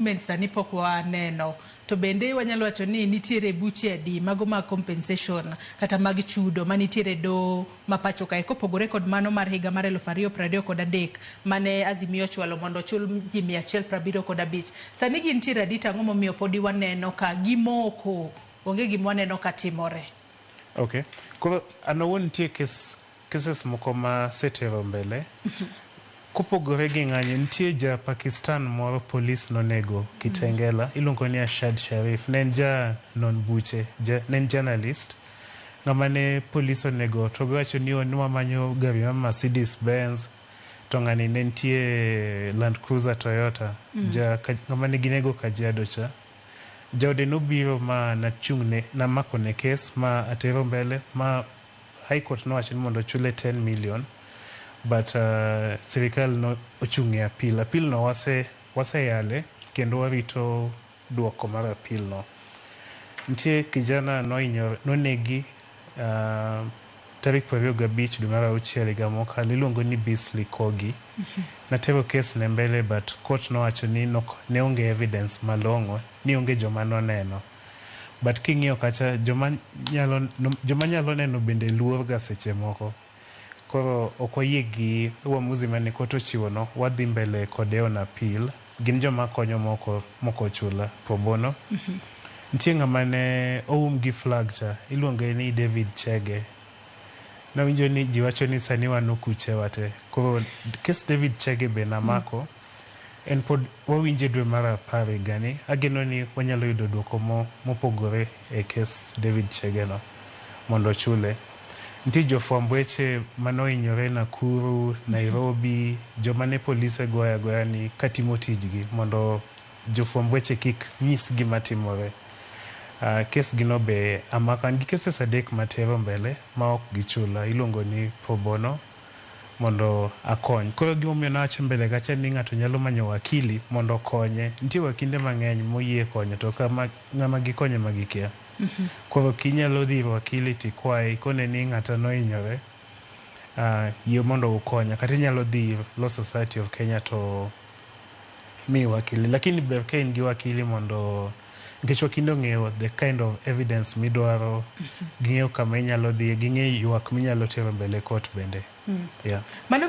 Payment sani pok waneno. To bende wanyalo wacho ni nitiere buche adi mago mag compensation kata mag chudo manitiere e doho ma pacho kae kopogore kod mano mar higa mar eluf ariyo prariyo kod adek mane Azimio ochwalo mondo ochul ji mia achiel prabiriyo kod abich. Sani gintiere adi to ang'o momiyo podi waneno ka gimoko? Onge gima waneno ka timore. Okay. Koro an awuon nitie kes Cases moko ma setero mbele, kopogore gi ng'anyo, nitie ja Pakistan moro polis nonego Kitengela, iluongo ni Ashad Sharif, ne en ja non buche, ja, ne en journalist, ng'ama ne polis onego to giwacho ni ne wamanyo gari ma Mercedes Benz, to ng'ani ne nitie Land Cruiser Toyota, ja, ka, ng'ama ne ginego Kajiado cha. Jaode nobiro ma nachung'ne, namakone kes ma atero mbele, ma High court nowacho ni mondo ochule 10 million but uh, sirikal no ochung' e appeal. Appeal no wase waseyale kendo warito duoko mar appeal no. Nitie kijana nohinyore nonegi uh, tarik prariyo gabich dwe mar auchiel higa mokalo iluongo ni Beasley Kogi. Natero kes ne mbele but court nowacho ni nok, ne onge evidence malong'o ni onge joma noneno. but king'iyo kacha joma nyalo joma nyalo neno bende luor ga seche moko koro ok wayie gi uamuzi mane kot ochiwo no wadhi mbele kode on appeal gin joma konyo moko moko chula probono mm -hmm. nitie ng'ama ne oum gi flag cha iluonge ni David Chege nawinjo ni jiwacho ni sani wan okuche wate koro kes David Chege be namako mm -hmm. En pod wawinje dwe mar apar higani. Ageno ni wanyalo yudo duoko mo mopogore e kes David Chege no mondo ochule. Nitie jofwamb weche mane ohinyore Nakuru, Nairobi, joma ne polise goyo agoya ni katimo tijgi mondo jofwamb weche kik nyis gima timore. Kes gi no be amako. An gi keses adek matero mbele ma ok gichula. Iluongo ni pro bono. mondo akony. Koro gima omiyo nawacho mbele kacha ni ng'ato nyalo manyo wakili mondo okonye. Nitie wakinde mang'eny moyie konyo to ka ma ng'ama gikonyo ema gikia. Koro ok inyalo dhi ir wakili to ikwaye ikone ni ng'ata nohinyore, ah, yie mondo ukonya. Kata inyalo dhi ir Law Society of Kenya to miyi wakili. Lakini ber ka in gi wakili mondo. nikech wakinde ong'eyo the kind of evidence midwaro ging'eyo kama inyalo dhiye ging'e ywak minyalo tero mbele court bende yeah. Mano